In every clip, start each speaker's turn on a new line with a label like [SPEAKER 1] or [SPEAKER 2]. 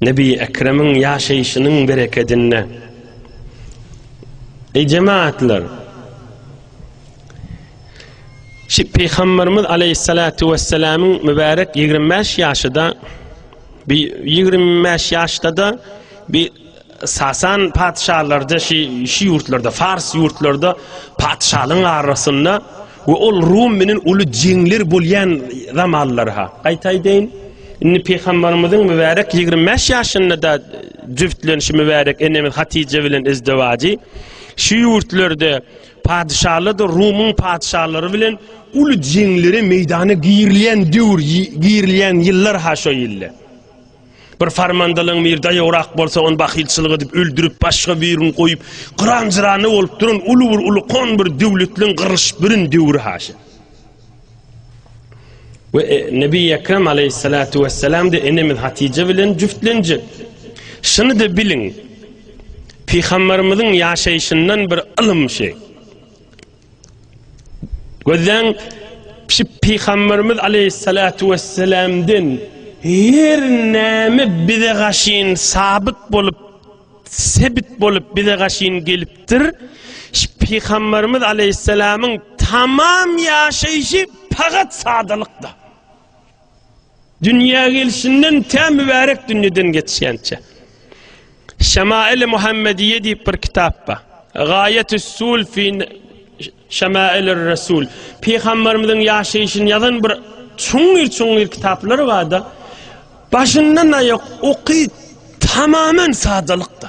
[SPEAKER 1] Nebi Ekremiň ýaşaýşynyň berekedinde. Eý jemaatlar! Şi Pygamberimiz aleyhissalatu vesselamyň mübärek 25 ýaşyda bi 25 ýaşda-da bi Sasan patyşalarda şi şi ýurtlarda Fars ýurtlarda patyşalyň arasynda We ol Rum bilen uly jeňler bolýan zamanlar-ha. Gaýta aýdaýyn, indi Pygambarymyzyň mübärek ýigrimi bäş ýaşynda-da jübtlenişi mübärek enemiz Hatyja bilen izdewajy şu ýurtlarda patyşalardyr Rumuň patyşalary bilen uly jeňlere meýdana girilýän döwür, girilýän ýyllar-ha şo ýyllar. Bir farmandalyň bir daýograk bolsa, ony bahylçylyk edip öldürip, başga birini goýup, gyran-jyrana bolup duran uly bir ulkan bir döwletliň gyrylyşyp birin döwri haşa. Ve e, Nebi Ekrem aleyhissalatu vesselam de enemiz Hatice bilen cüftlenecek. Şunu da bilin, Peygamberimizin yaşayışından bir ılım şey. Gözden şu Peygamberimiz aleyhissalatu vesselam'den her näme bize gaşyn sabit bolup sebit bolup bize gaşyn gelipdir. Şu Peygamberimiz aleyhissalam'ın tamam yaşayışı fakat sadalykda. Dünýä gelşinden tä mübärek dünýeden geçýänçä. Şemail-i Muhammediýe diýip bir kitap bar. Gaýetüs-sul fi Şemailir Resul. Pygamberimiziň ýaşaýşyny ýazan bir çuňňur-çuňňur kitaplary bar-da. Başyndan aýak oky tamamen sadalykda.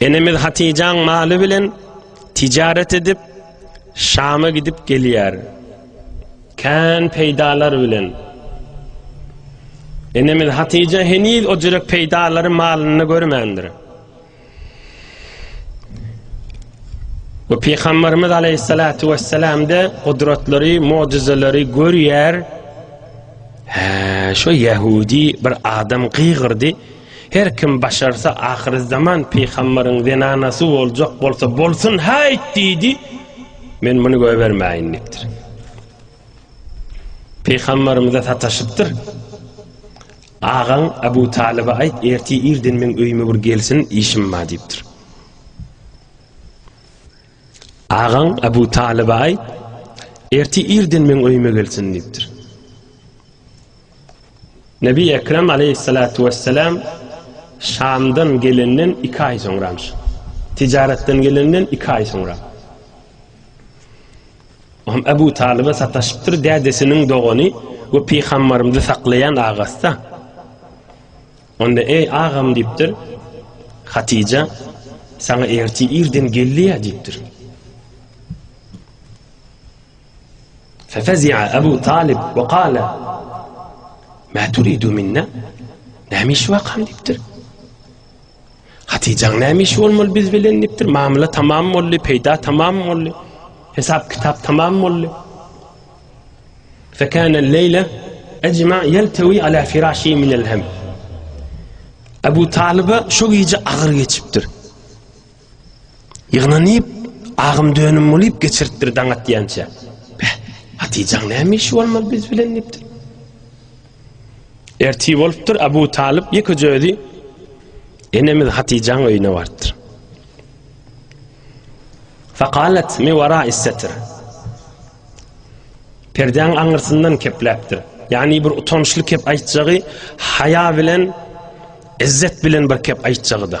[SPEAKER 1] Enemiz Hatyjaň maly bilen tijaret edip, Şama gidip gelýär. Kän peýdalar bilen. Enemiz Hatyja heniz o jürek peýdalary malynda görmändir. Bu Peygamberimiz Aleyhissalatu vesselam de kudretleri, mucizeleri görüyer. He, şu Yahudi bir adam kıygırdı. Her kim başarsa ahyrzaman pygambaryň zenanasy boljak bolsa bolsun haýt diýdi, men muny göbermäýin diýipdir. Pygambarymyza sataşypdyr. Agaň Abu Talyba aýt, erti irden meň öýüme bir gelsin, işim bar diýipdir. Agaň Abu Talyba aýt, erti irden meň öýüme gelsin diýipdir. Nebi Ekrem aleýhissalatu wessalam Şamdan gelenden iki aý soňramyş. Tijaratdan gelenden iki aý soňra. Ohm Abu Talyba sataşypdyr, dädesiniň dogany we pygambarymyzy saklaýan agasda. Onda eý agam diýipdir. Hatija sana erti irden gelýär diýipdir. Fefezi'a Abu Talib we qala, Ma turidu minna? Näme iş wakam diýipdir. Hatyjaň näme iş bolmaly biz bilen diýipdir. Mamla tamam boldy, peýda tamam boldy. Hesap kitap tamam boldy. Fekana leýle ejma yeltewi ala firashi min elhem. Abu Taliba şu gije agyr geçipdir. Ýygnanyp, agym-dönüm bolup geçiripdir daň atýança. Beh, Hatyjaň näme işi bolmaly biz bilen diýipdir. Ertir bolupdyr, Abu Talyp ýekeje özi enemiz Hatyjaň öýüne barypdyr. Fakalet mi wara issetir. Perdeň aňyrsyndan kepläpdir. Ýani bir utançly kep aýtjagy, haýa bilen, izzet bilen bir kep aýtjagy-da.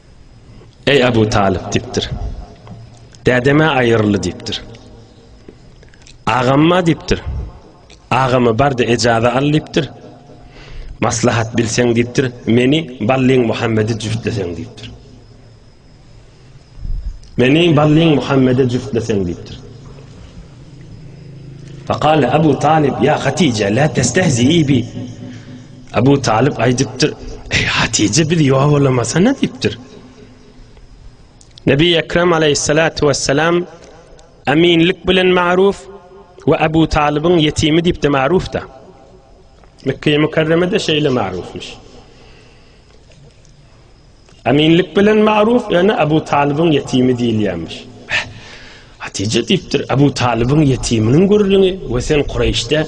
[SPEAKER 1] Eý Abu Talyp diýipdir. Dädeme aýyrly diýipdir. Agamma diýipdir. Agamy bardy ejaza al diýipdir. Maslahat bilseň diýipdir. Meni Ballyň Muhammedi jüftlesen diýipdir. Meni Ballyň Muhammedi jüftlesen diýipdir. Faqala Abu Talib ya Hatija la testehzi bi. Abu Talyp aýdypdyr, Eý Hatije bizi ýowalamasana diýipdir. Nebi Ekrem aleyhissalatu vesselam aminlik bilen maruf we Abu Talybyň ýetimi diýip de maruf da. Mekkeýe mükerremede şeýle marufmuş. Aminlik bilen maruf, ýöne Abu Talybyň ýetimi diýilýärmiş. Hatije diýipdir, Abu Talybyň ýetiminiň gürrüňi we sen Kureýşde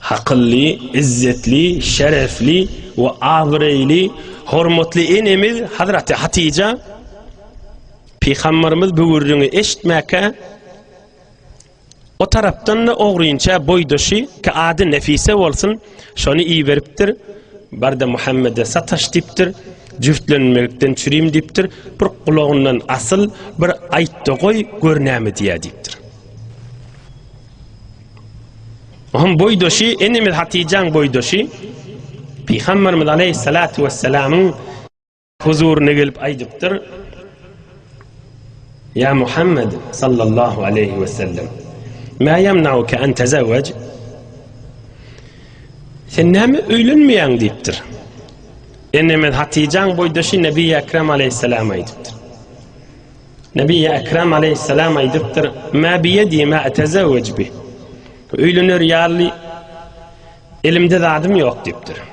[SPEAKER 1] Hakylly, izzetli, şerefli we abyreýli hormatly enemiz Hazraty Hatyja Pygambarymyz bu gürrüňi eşitmäkä O tarapdan da ogrynça boýdaşy ki ady Nefise bolsun, şony iberipdir. Barda Muhammede sataş dipdir. Jüftlenmekden çürim dipdir. Bir gulagyndan asyl, bir aýtda goý, gör näme diýýär dipdir. Onuň boýdaşy, enemiz Hatijäň boýdaşy Pygamberimiz aleyhissalatu vesselamyň huzuryna gelip aýdypdyr. Ya Muhammed sallallahu aleyhi ve sellem Ma yemnauke en tezevvec Sen näme öýlenmeýäň diýipdir. Enemiz Hatijaň boýdaşy Nebi Ekrem aleyhissalama aýdypdyr. Nebiýi Ekrem aleýhissalam aýdypdyr, Mä biýedi mä etezewwej bih. Öýlener ýaly elimde zadym ýok diýipdir.